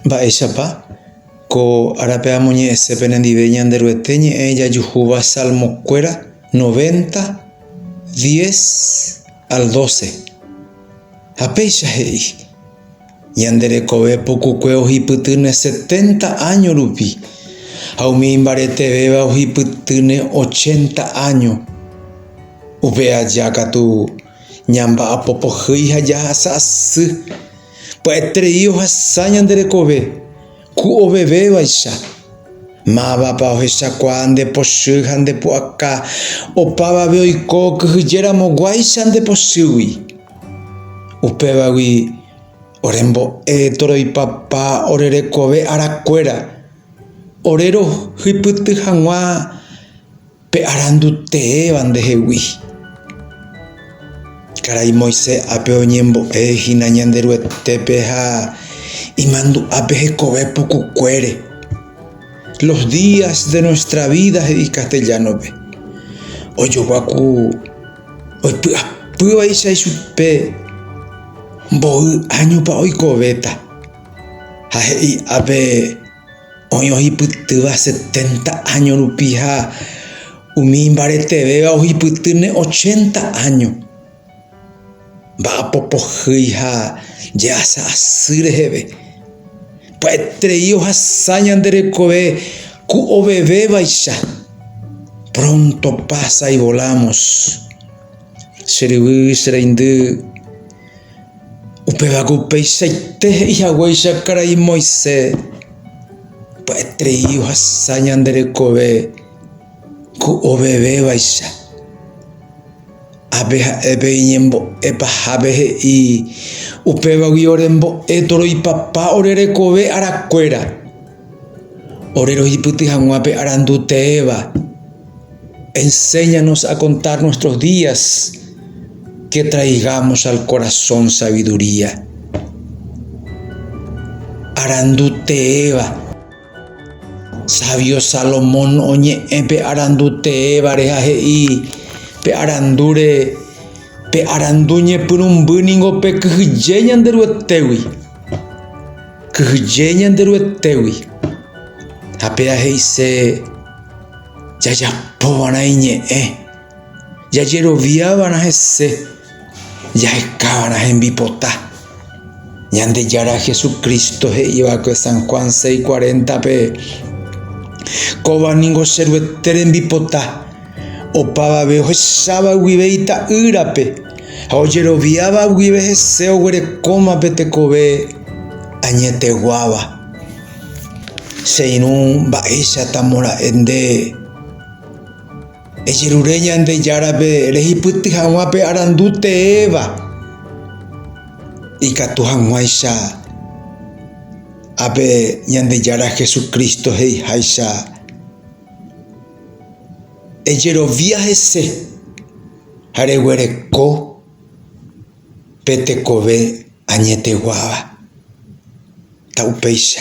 Mba'éichapa ko árape amoñe'ẽse penendive Ñanderuete ñe'ẽ jajuhúva Salmokuéra novénta dies al dóse? Ha péicha he'i, Ñande rekove pukukue ohipytýne seténta áño rupi, ha umi imbaretevéva ohipytýne ochénta áño. Upe aja katu ñamba'apopohýi ha jahasa asy. Pya'eterei ohasa ñande rekove ku ovevevaicha. Mávapa ohechakuaa nde pochy ha nde pu'aka opavave oiko kyhyjéramo guáicha nde pochýgui. Upévagui orembo'e toroipapa ore rekove arakuéra, ore rohypyty hag̃ua. Pe arandu teéva ndehegui. Karai Moisés ápe oñembo'e hína Ñanderuetépe ha imandu'ápe hekove pukukuére. Los días de nuestra vida he'i castellano-pe. Ojogua ku oipy'apývaicha ichupe mboy áñopa oikovéta ha he'i ápe Oĩ ohipytýva setenta áño rupi ha umi imbaretevéva ohipytýne ochenta áño. Mba'apo pohýi ha jehasa asy reheve. Pya'eterei ohasa ñande rekove ku ovevevaicha. Pronto pasa y volamos. Che ryvy, che reindy. Upévako upeichaite he'i haguéicha karai Moisés pya'eterei ohasa ñande rekove ku ovevevaicha. Ápe ha'e pe iñembo'e pahápe he'i, Upévagui ore mbo'e toroipapa ore rekove arakuéra. Ore rohipyty hag̃ua pe arandu teéva, enséñanos a contar nuestros días que traigamos al corazón sabiduría. Arandu teéva. Sabio Salomón oñe'ẽ pe arandu teévare ha he'i pe arandúre, Pe arandu ñepyrũmby ningo pekyhyje Ñanderuetégui. Kyhyje Ñanderuetégui, ha péa he'ise jajapova'erã iñe'ẽ, jajeroviava'erã hese, jahekava'erã hembipota. Ñandejára Jesucristo he'iva'ekue San Juan 6:40-pe, Kóva ningo che Ruete rembipota. Opavave ohecháva guive ita'ýrape ha ojeroviáva guive hese oguerekóma pe tekove añeteguáva. Che irũ mba'éichatamo ra'e nde ejerure Ñandejárape rehipyty hag̃ua pe arandu teéva, ikatu hag̃uáicha ápe Ñandejára Jesucristo he'iháicha. Ejerovia hese ha reguereko pe tekove añeteguáva. Upéicha.